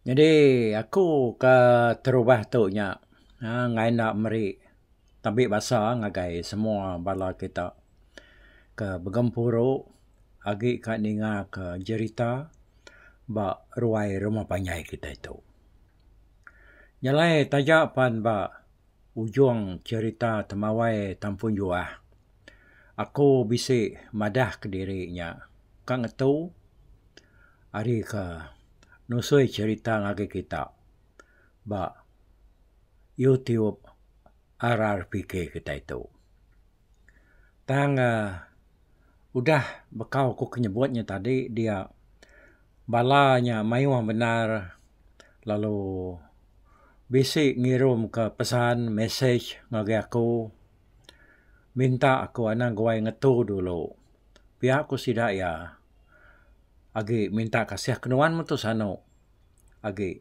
Nyadi aku ke terubah tu nya uhh ngai enda meri tembi basa ngagai semua bala kita ke begempuru agi ka ninga ka jerita ba ruai rumah panjai kita tu. Nyelai taja pan ba ujung jerita temawai Tampunjuah. Aku bisi madah kediri nya ka ngetu ari ka nusui cerita ngagai kita ba YouTube RRPK kitai tu. Tang uhh udah bekau ku ke nyebut nya tadi dia bala nya mayuh bendar lalu bisi ngirum ka pesan message ngagai aku. minta aku anang guai ngetu dulu. Pia ku sida iya agi minta kasih ke nuan metu sanu agi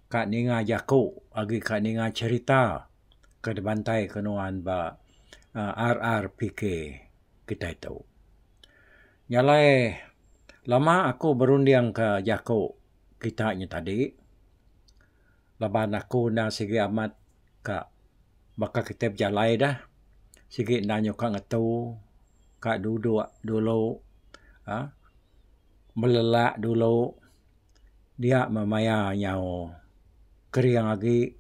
ka ninga jaku agi ka ninga cherita ke dibantai ke nuan ba aaa RRPK kitai tu. Nya alai lama aku berunding ka jaku kita nya tadi. laban aku enda sigi amat ka baka kitai bejalai dah sigi enda nyuka ngetu ka duduk dulu um belelak dulu dia meh maya nyau kering agi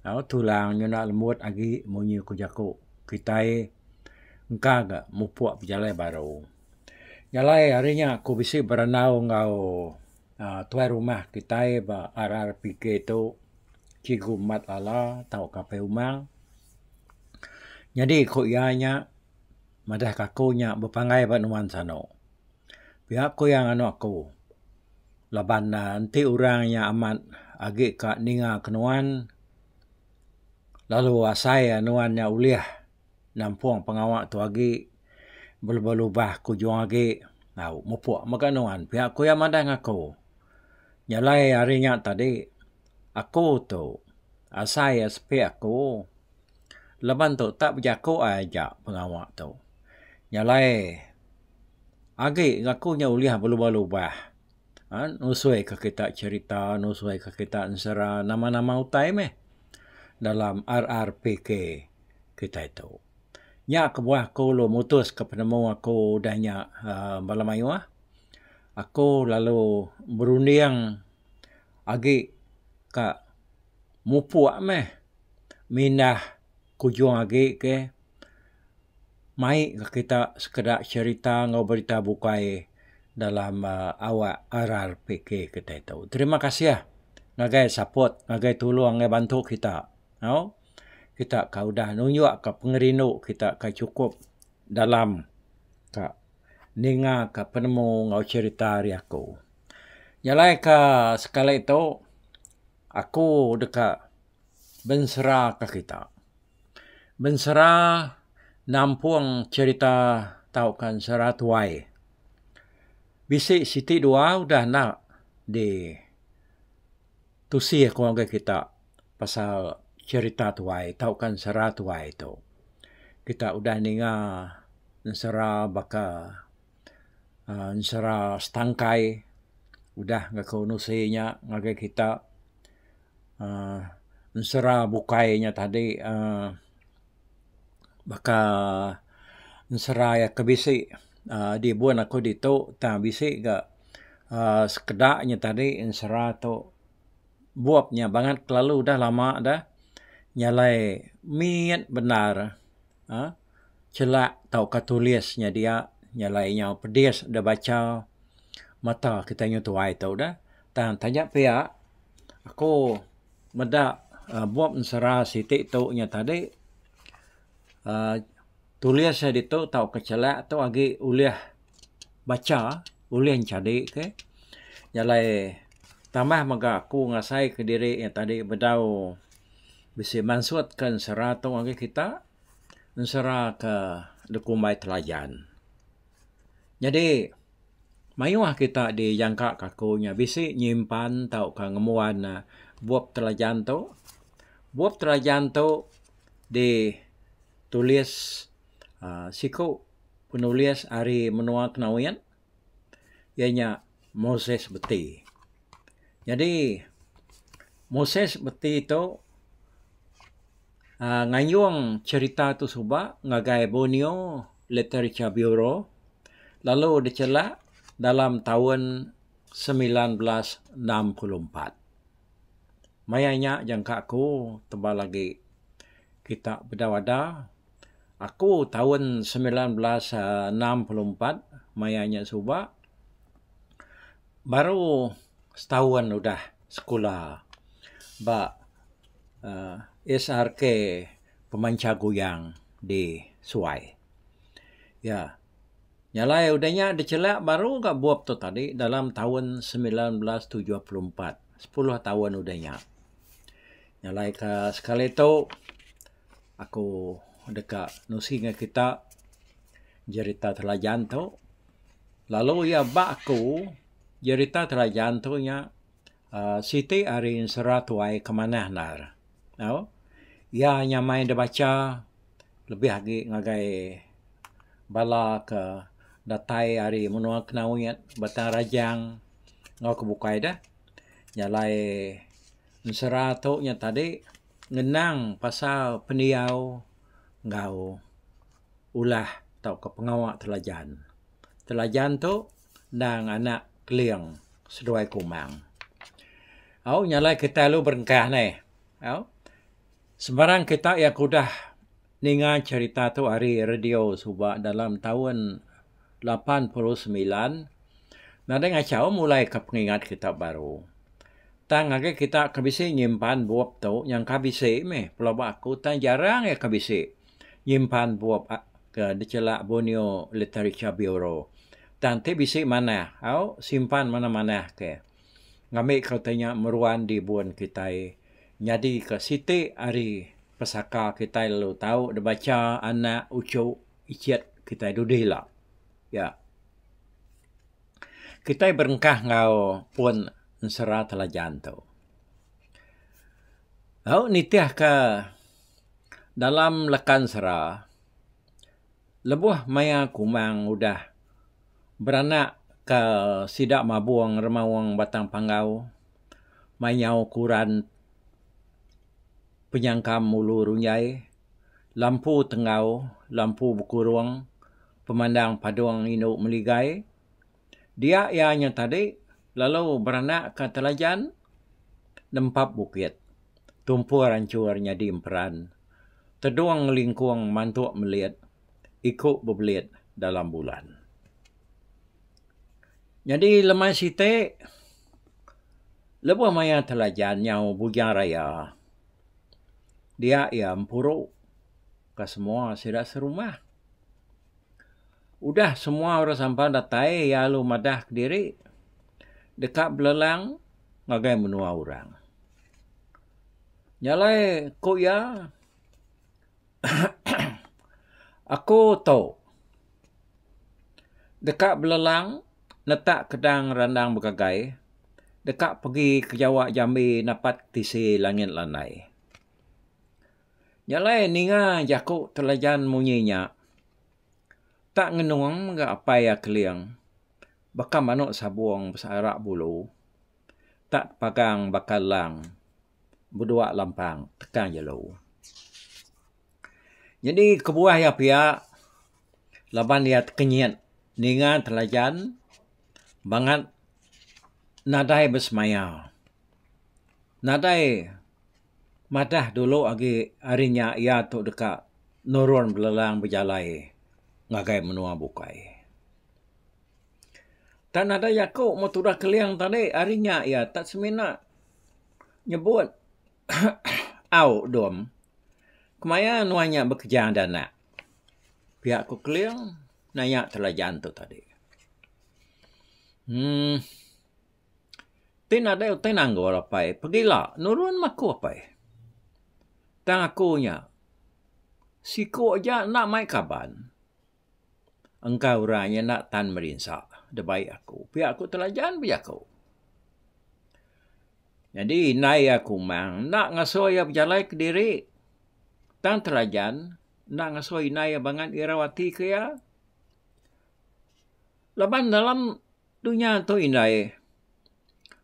um tulang nyuna lembut agi munyi ku jaku kitai engka ga mupuk bejalai baru. Jalai ari nya aku bisi berandau enggau tuai rumah kitai ba RRPK tu Cikgu Mat Lala tauka Apai Umang. Nyadi ku iya nya madahka aku nya bepanggai ba nuan sano. Pia ku iya nganu aku laban ne enti orang nya amat agi ka ninga ke nuan lalu asai nuan nya ulih nampung pengawa tu agi belubah-lubah ku juho agi tau mupok mega nuan pia ku iya madah ngaku. Nyelai ari nya tadi aku tu asai iya sepik aku leban tu tak bejaku ai ja pengawa tu. Nyelai agi ngaku nya ulih belubah-lubah aaa nusui ka kita cherita nusui ka kita ensera nama-nama utai meh dalam RRPK kitai tu. Nya kebuah aku lalu mutuska penemu aku udah nya aaa bala mayuh, aku lalu berunding agi ka mupuk meh mindah kujung agi ke mai ka kita sekeda cherita enggau berita bukai dalam aaa awak RRPK kita itu. Terima kasih ngagai support, ngagai tulung, ngagai bantu kita. Au. kita ka udah nunjuk ka pengerindu kita ka chukup dalam ka ninga ka penemu enggau cherita ari aku. Jalai ka sekali tu aku deka bensera ka kita. Bensera nampung cherita tau ka ensera tuai. Bisi siti dua udah enda di tusih aku ngagai kita pasal cherita tuai tauka ensera tuai tu. Kita udah ninga ensera baka uhh ensera setangkai udah ngaku nusi nya ngagai kita uhh ensera bukai nya tadi uhh baka ensera iya ke bisi aaa dibun aku ditu tang bisi ga aaa sekeda nya tadi ensera tu bup nya bangat kelalu udah lama dah nya alai mit bendar aaa chela tauka tulis nya dia nya alai nyau pedis da bacha mata kita nyau tuai tu dah tang taja pia aku Meda bup ensera siti tu nya tadi aaa tulis iya ditu tauka chelak tu agi ulih bacha ulih nyadi ke jalai tambah mega aku ngasai kediri iya tadi bedau bisi mansut ke ensera tu ngagai kita ensera ke da kumbai telajan. Nyadi, mayuh kita dijangka kaku nya bisi nyimpan tauka ngembuan bup telajan tu. Bup telajan tu ditulis uhh siku penulis ari menua Knowin iya nya Moses Beti. Nyadi Moses Beti tu. uhh ngayung cherita tu suba ngagai Borneo Literature Bureau lalu dichela dalam taun semilan belas enam puluh empat. Maya nya jangka aku tebal agi kita beda-beda. Aku taun semilan belas enam puluh empat maya nya suba baru setaun udah sekula ba uhh SRK pemancha goyang di suai. Ya. Nya alai udah nya dichelak baru ga bup tu tadi dalam taun semilan belas tujuh puluh empat, sepuluh taun udah nya. Nya alai ka sekali tu aku deka nusi ngan kita jerita Telajan tu lalu iya ba aku jerita Telajan tu nya Siti ari ensera tuai ke manah endar. Au. Iya nyamai da bacha lebih agi ngagai bala ke datai ari menua Knowit, Batang Rajang enggau ke bukai deh. Jalai ensera tu nya tadi ngenang pasal pendiau enggau ulah tauka pengawa Telajan. Telajan tu. endang anak Keling seduai Kumang. Au nyalai kitai lalu berengkah neh. Au sembarang kitai iya ke udah ninga cherita tu ari radio suba dalam taun lapan puluh semilan nadai ngachau mulai ka pengingat kitai baru. Tang agi kitai ke bisi nyimpan bup tu nyangka bisi meh pelaba aku tang jarang iya ke bisi. nyimpan bup ke dichelak Borneo Literature Bureau tang ti bisi manah au simpan manah-manah ke ngambika utai nya meruan dibun kitai nyadika siti ari pesaka kitai lalu tau dibacha anak uchu ichit kitai dudi ila. Iya. Kitai berengkah enggau pun ensera Telajan tu. Au nitihka. Dalam lekansera, lebuh maya Kumang udah beranak ke sida Mabung Remaung Batang Panggau, mainyau kuran Penyangkam Ulu Runjai, Lampu Tenggau, Lampu Bekurung, Pemandang Padung Indu Meligai, Dia iya nya tadi lalu beranakka Telajan nempap bukit. Tumpur anchur nyadi emperan. Tedung ngelingkung mantuk melit, iku bebelit dalam bulan. Nyadi lemai siti lebuh maya Telajan nyau Bujang Raya dia iya empuru. ka semua sida serumah. Udah semua orang sampan datai iya lalu madah kediri deka belelang ngagai menua orang. Nya alai ku iya Aku tu deka belelang neta kedang randang begagai deka pegi ke Jawa Jambi napat tisi langit landai. Nya alai ninga jaku Telajan munyi nya. Tak ngenung mega apai iya Keling. Baka manuk sabung besearak bulu. Tak tepagang baka elang bedua lampang teka jelu. Nyadi kebuah iya pia laban iya tekenyit ninga Telajan bangat nadai besemaya. Nadai. Madah dulu agi hari nya iya tu deka nurun belelang bejalai ngagai menua bukai. Tang nadai jaku mun tudah Keling tadi hari nya iya tak semina nyebut au dom. Kemaya nuan nya bekeja enda anak. Pia ku Keling naya Telajan tu tadi. Uhh. Ti nadai utai nanggul apai pegila nurun mah aku apai. Tang aku nya siku aja enda mai kaban engkai orang inya enda tan merinsa da bai aku pia aku telajan bejaku. Nyadi indai iya kumang enda ngasuh iya bejalai kediri tang telajan enda ngasuh indai iya bangat irau ati ke iya laban dalam Dunya tu indai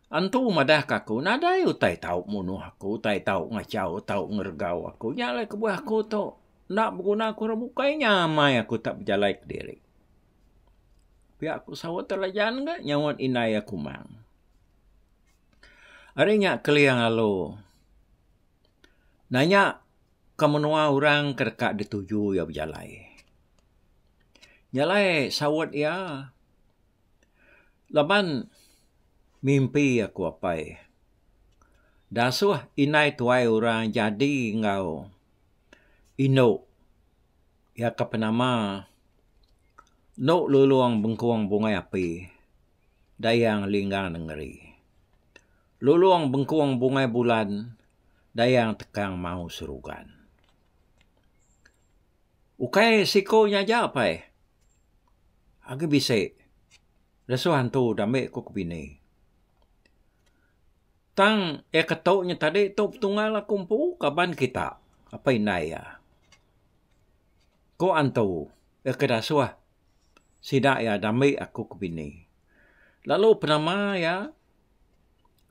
antu madah ka aku nadai utai tau munuh aku utai tau ngachau tau ngeregau aku nya alai kebuah aku tu enda beguna aku orang bukai nya amai aku tak bejalai kediri. Pia aku saut alai jalan ga nyaut indai aku mang. Ari nya keling lalu nanya ke menua orang ke deka dituju iya bejalai. Nya alai saut iya, Laban mimpi aku apai dasuh indai tuai orang jadi enggau indu iya ke penama enu lulong bengkong bungai api dayang linggang nengeri. Lulong bengkong bungai bulan dayang tekang mau serugan. Ukai siko nya aja apai agi bisi lesu hantu dambe ku kebini. Tang iya ke tu nya tadi tu petunggal aku empu kaban kita apai indai iya. Ko hantu iya ke dasuh sida iya dambe aku ke bini. Lalu penama iya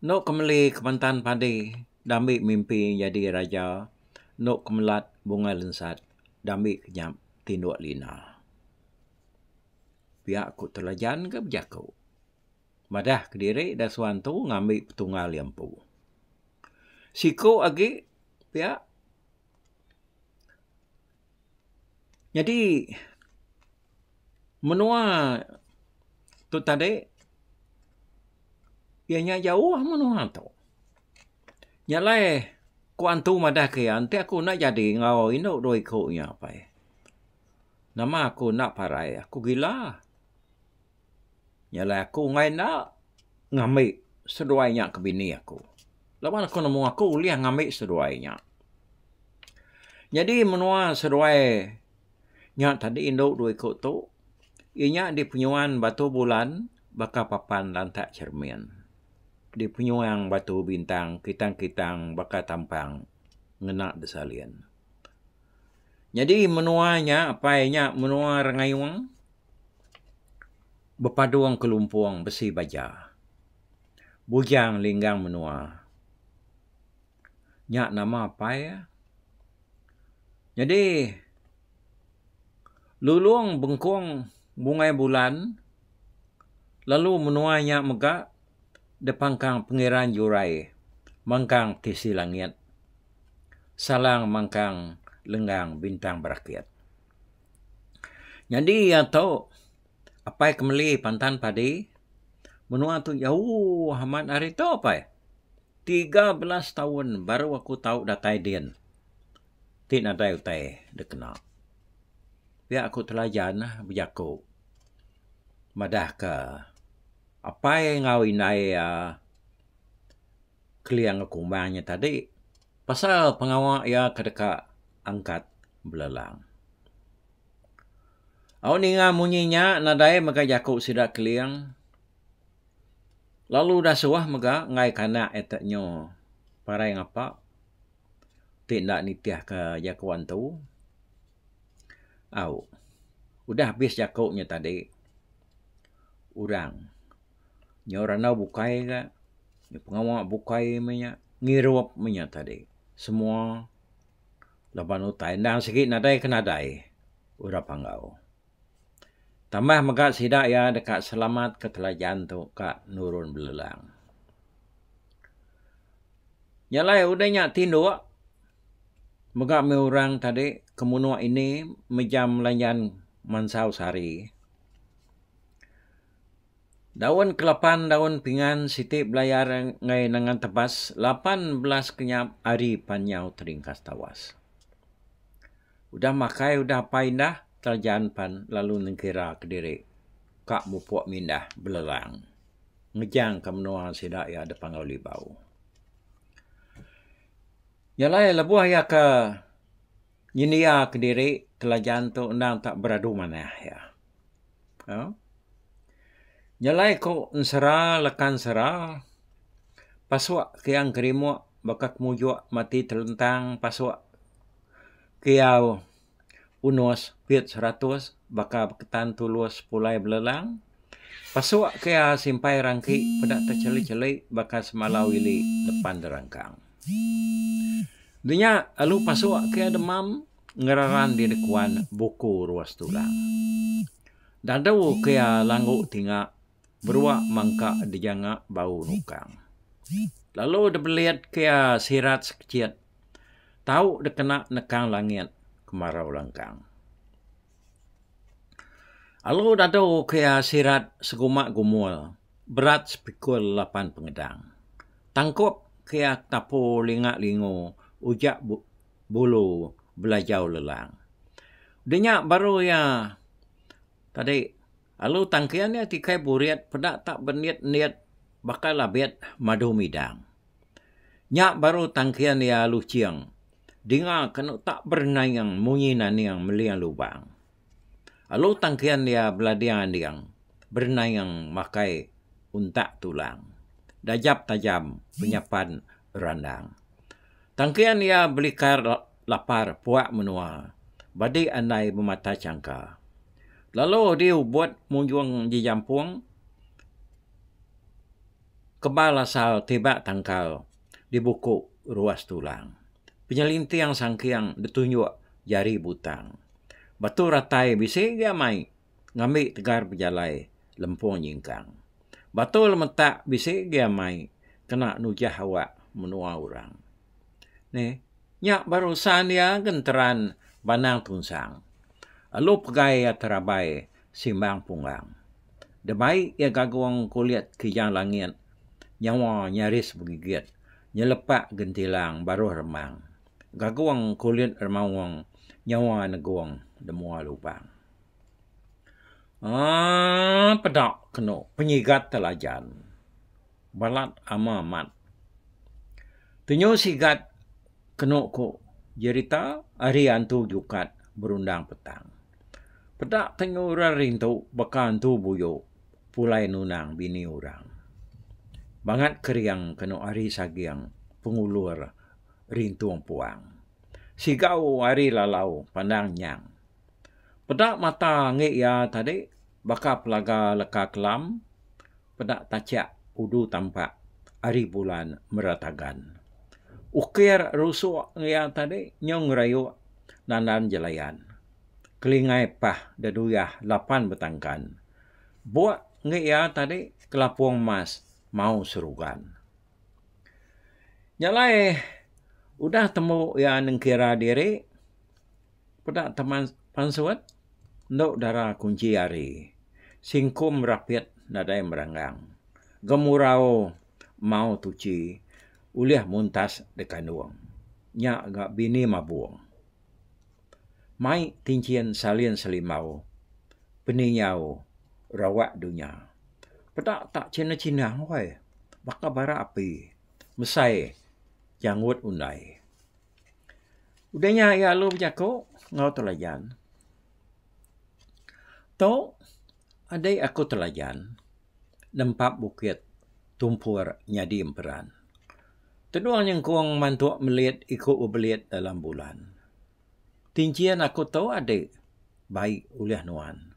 Endo ke meli kemantan padi diambi mimpi nyadi raja endo ke melat bunga lensat diambi ke nyap tinduk lina. Pia ku telajan ke bejaku madah kediri da suan tu ngambi petunggal iya empu. Siku agi pia Nyadi menua tu tadi iya nya jauh menua tu. Nya alai ku antu madah ke iya enti aku enda jadi enggau indu dua iku nya apai nama aku enda parai aku gila. Nya alai aku enggai enda ngambi seduai nya ke bini aku. Laban aku nemu aku ulih ngambi seduai nya. Nyadi menua seduai nya tadi indu dua iku tu inya dipenyuan Batu Bulan baka papan lantak cermin. Dipenyuan Batu Bintang, Kitang-Kitang baka tampang ngena desalin. Nyadi menua nya apai nya menua Rengayong bepadung kelumpung besi baja. Bujang linggang menua nya nama apai iya. Nyadi lulong bengkong bungai bulan lalu menua nya mega depangkang pengeran jurai mangkang tisi langit. salang mangkang lenggang bintang berakit. Nyadi iya tu apai ke meli pantan padi menua tu jauh amat ari tu apai. Tiga belas taun baru aku tau datai din ti nadai utai dek kena. Pia aku telajan lah bejaku madah ke apai enggau indai iya Kelia enggau Kumbang nya tadi pasal pengawa iya ke deka angkat belelang. Au ninga munyi nya nadai mega jaku sida Keling lalu udah suah mega ngaika anak iya tu nyu parai ngapa ti enda nitihka jaku antu. Au udah abis jaku nya tadi orang. nyau randau bukai ga pengawa bukai me nya ngirup me nya tadi semua laban utai enda sigi nadai ke nadai orang panggau. Tambah mega sida iya deka selamat ke telajan tu ka nurun belelang. Nya alai udah nya tinduk mega me orang tadi kemunak ini mejam lanjan mansau sari. Daun kelapan daun pingan siti belayar enggai nangan tebas lapan belas kenyap ari pan nyau teringkas tawas. Udah makai udah apai indah telajan pan lalu nengkira kediri ka mupok mindah belelang ngejang ka menua sida iya dipangau libau. Iya alai lebuh iya ke Nyendia kediri kelajan tu endang tak beradu manah iya. Nyelai ku ensera leka ensera, pasuk ke iya ngerimuk baka kemujok mati telentang pasuk ke iya unus pit seratus baka beketan tulus pulai belelang, pasuk ke iya simpai rangki peda techelek-chelek baka semalau ili depan derangkang. Deh nya alu pasu ke demam ngereran diri kuan buku ruas tulang. Dadu ke iya langgu tinga berua mangka dijanga bau nukang. Lalu deh belit ke iya sirat sekechit tau deh kena nekang langit kemarau langkang. Alu dadu kia sirat seguma gumul berat sepikul lapan pengedang. Tangkup kia tapu linga lingu uja bulu belajau lelang. Denya baru iya tadi alu tangkin iya ti kai burit peda tak benit nit bakal abit madu midang. Nya baru tangkin iya alu ching. Dinga kenu tak bernaing munyi naning meling lubang. Alu tangkin iya belading anding bernaing makai untak tulang. Dajap tajam penyapan randang. Tangkin iya belikar lapar puak menua badi andai bemata changka. Lalu diubut munjung jejampung. Kebal asal tibak tangkal di buku ruas tulang. Penyelinting sangking betunjuk jari butang. Batu ratai bisi gia mai ngambi tegar bejalai lempung nyingkang. Batu lemetak bisi gia mai kena nujah awak menua orang. Ni, nya barusan iya genteran Banang Tunsang. Alu pegai iya terabai Simbang Punggang. Demai iya gagung kulit kijang langit, nyawa nyaris begigit, nyelepak gentilang baruh remang. Gagung kulit remaung, nyawa negung demua lubang. Aaa peda kenu penyigat telajan balat ama mat. Tenyu sigat kenu ku jerita ari antu jukat berundang petang. Peda tengah orang rintu baka entu buyu pulai nunang bini orang. Bangat kering kenu ari saging pengulur rintu empuang. Sigau ari lalau pandang nyang. Peda mata angi iya tadi baka pelaga leka kelam. peda tachiak udu tampak ari bulan meratagan. Ukir rusuk iya tadi nyau ngerayuk nandan jelayan. Kelingai pah deduyah lapan betangkan. Buk ngi iya tadi kelapung mas mau serugan. Nya alai udah tembu iya nengkira diri peda teman pansut. Endo dara kunchi ari. Singkum rapit nadai meranggang. Gemurau mau tuchi ulih muntas dekandung. Nya ga bini mabung. Mai tinchin salin selimbau peningau rawak dunya. Peda tak chinah chinah weh. Baka bara api mesai janggut undai. Udah nya iya lalu bejaku enggau Telajan, Tu, adi aku Telajan nempa bukit tumpur nyadi emperan. Tenung nyengkung mantu melit iku bebelit dalam bulan. Ti enchin aku tu adi bai ulih nuan.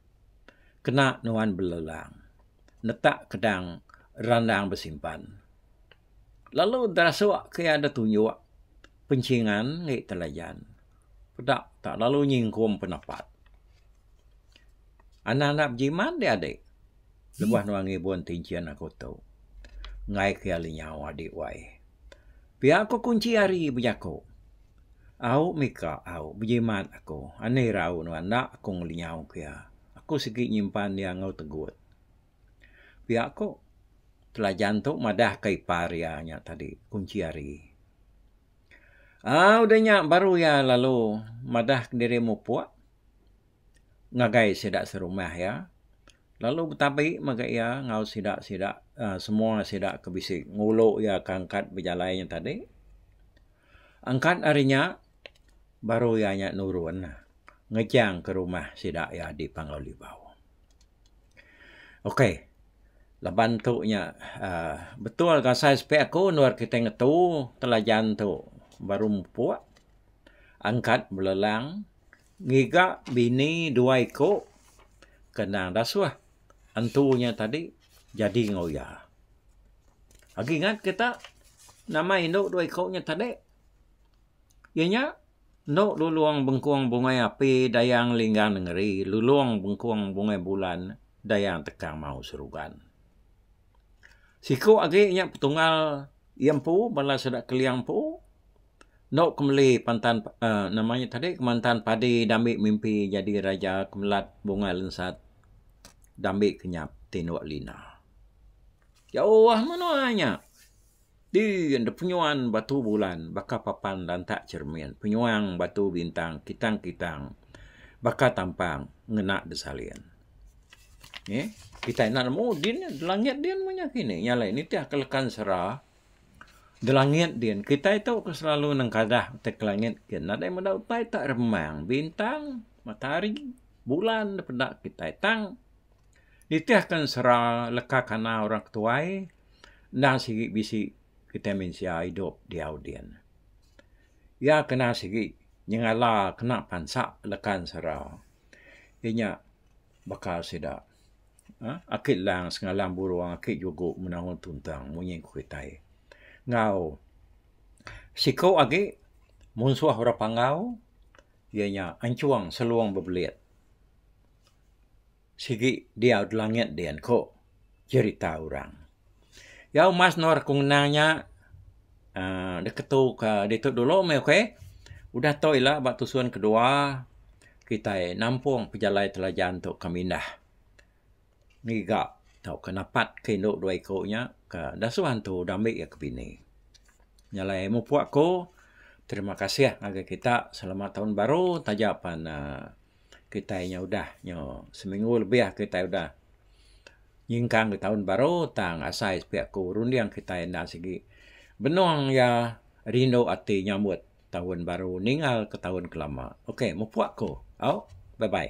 Kena nuan belelang netak kedang randang besimpan. lalu derasuk ke iya da tunjuk pencingan ngi telajan peda tak lalu nyingkung penepat. Anang enda bejimat di adi lebuh nuan ngibun ti enchin aku tu enggai ke iya lenyau adi wai. Pia ku kunchi ari bejaku au mika au bejimat aku ani rau nuan enda aku ngelenyau ke iya. Aku sigi nyimpan iya enggau tegut. Pia ku Telajan tu madah ka ipar iya nya tadi kunchi ari. Au udah nya baru iya lalu madah diri mupuk ngagai sida serumah iya lalu betabi mega iya enggau sida sida aaa semua sida ke bisi ngulu iya ke angkat bejalai nya tadi. Angkat ari nya baru iya nya nurun ngejang ke rumah sida iya di Panglao Libau. Ok laban tu nya aaa betul ga sai sepi aku endur kitai ngetu telajan tu baru mupok angkat belelang ngiga bini dua iko ke nang dasuh entu nya tadi jadi enggau iya. Agi ingat kita nama indu dua iko nya tadi. Iya nya, endo lulong bengkung bungai api dayang linggang nengeri, lulong bengkung bungai bulan dayang tekang mau serugan. Siku agi nya petunggal iya empu bala sida Keliang empu endo ke meli pantan uhh nama nya tadi kemantan padi dambi mimpi nyadi raja kemelat bungai lensat dambi kenyap tinduk lina. Jauh menua nya. Ti enda penyuan batu bulan baka papan lantak cermin penyuang batu bintang kitang-kitang baka tampang ngena besalin. Nge kitai enda nemu din langit din meh nya kini nya alai nitih ke lekan sera belangit din kitai tu ke selalu nengkadah ti ke langit ke nadai meda utai tak remang bintang matahari bulan da peda kitai tang nitihkan sera leka kana orang ketuai enda sigi bisi kitai mensia idup diau din. Iya kena sigi nyengala kena pansa lekan sera inya baka sida uhh aki lang sengalang burung aki jugu menangun tuntang munyi ku kitai. Enggau siku agi munsuh orang panggau iya nya anchung selung bebelit. Sigi diau di langit din ko jerita orang. Jau mas endur aku ngenang nya uhh deka tu ka ditu dulu meh okay. Udah tu ila ba tusun kedua kitai nampung pejalai telajan tu ka mindah ngiga tauka napat ka indu dua iku nya ka dasuh antu dami iya ka bini. Nya alai mupuk aku terima kasih ngagai kita selamat taun baru taja pan uhh. kitai nya udah nyo seminggu lebih kitai udah nyingkang ke taun baru tang asai sepi aku runding kitai enda sigi benung iya rindu ati nyambut taun baru ninggal ke taun ke lama. Ok mupuk ku au bye bye.